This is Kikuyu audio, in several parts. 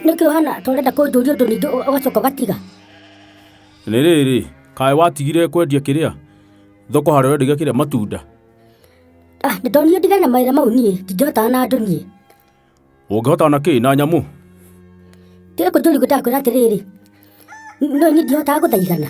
nĩkĩ ũhana ta ũrenda kũnjũria ũndũ ningĩ ũ- ũgacoka ũgatiga nĩ rĩrĩ kaĩ watigire kwendia kĩrĩa thoko harĩa wendagia kĩrĩa matunda ah nĩ tondũ niĩ ndigana mawĩra mau niĩ ndingĩhotaga na andũ niĩ ũngĩhota na kĩ na nyamũ kĩrĩ kũnjũria ngũtaga kwĩra atĩrĩrĩ no niĩ ndihotaga gũthaigana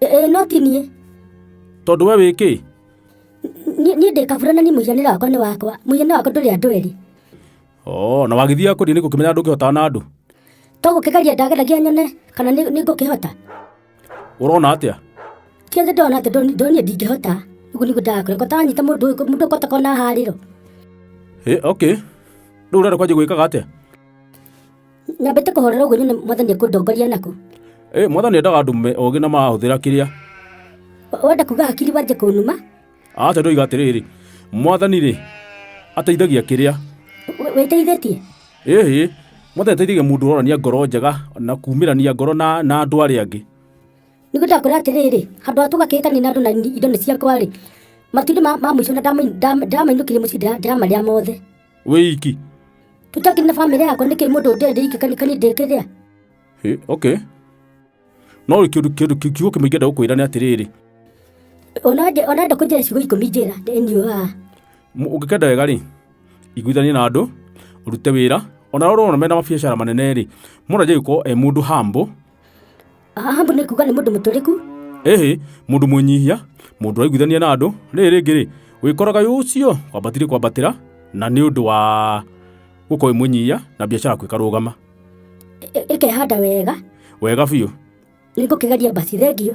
ĩĩ no ti niĩ tondũ we wĩkĩ Niĩ- niĩ ndĩ kabura na niĩ mũhianĩre wakwa nĩ wakwa mũhianĩre wakwa ndũrĩ andũ erĩ o na wagĩthiaga kũrĩa nĩ gũkĩmenya andũ ũkĩhotaga na andũ to gũkĩgeria ndageragia nyone kana nĩ nĩ ngũkĩhota ũrona atĩa kĩothe ndona atĩ ndoni- ndoniĩ ndingĩhota ũguo nĩguo ndagakore kotanyita mũndũ ũyũ mũndũ ũkota kona harĩro ĩ okay rĩu ũrenda kwanjia gwĩkaga atĩa nyambĩte kũhorera ũguo nyone mwathani ekũndongoria nako ĩ mwathani endaga andũ me ũgĩ na mahũthĩra kĩrĩa Wa- wenda kuga hakiri wanjie kũnuma aca ndoiga atĩrĩrĩ mwathani-rĩ ateithagia kĩrĩa Wĩ- wĩteithĩtie ĩhĩ mwathani ateithagia mũndũ ũronania ngoro njega na kumĩrania ngoro na na andũ arĩa angĩ nĩguo ndakora atĩrĩrĩ handũ ha tũgakĩĩtania na andũ na ni- indo nĩ ciakwa-rĩ matumbĩ ma ma mũico na ndama- ndama- ndamainũkire mũciĩ ndĩra- ndĩramarĩa mothe wĩ iki tũtakĩ na bamĩrĩ yakwa nĩkĩ mũndũ ndĩ ndĩ iki kanikani ndĩkĩrĩa Ĩ, okay no rĩ kĩndũ kĩndũ kĩu kiugo kĩmwe ingĩenda gũkwĩra nĩ atĩrĩrĩ onande onande kũnjĩra ciugo ikũmi njĩra ndĩnyuaga Mũ- ũngĩkenda wega rĩ iguithanie na andũ ũrute wĩra ona rorwo mena mabiacara manene rĩ mũndũ aje gũkorwo e mũndũ hambo Ahabu nĩ kuga nĩ mũndũ mũtũrĩku ĩhĩ mũndũ mwĩnyihia mũndũ waiguithania na andũ rĩrĩ rĩngĩ rĩ wĩkoraga wĩ ũcio wambatire kwambatĩra na nĩ ũndũ wa gũkorwo wĩ mwĩnyihia na biacara yaku ĩkarũgama ĩ- ĩ- ĩkehanda wega wega biũ nĩ ngũkĩgeria basi thengio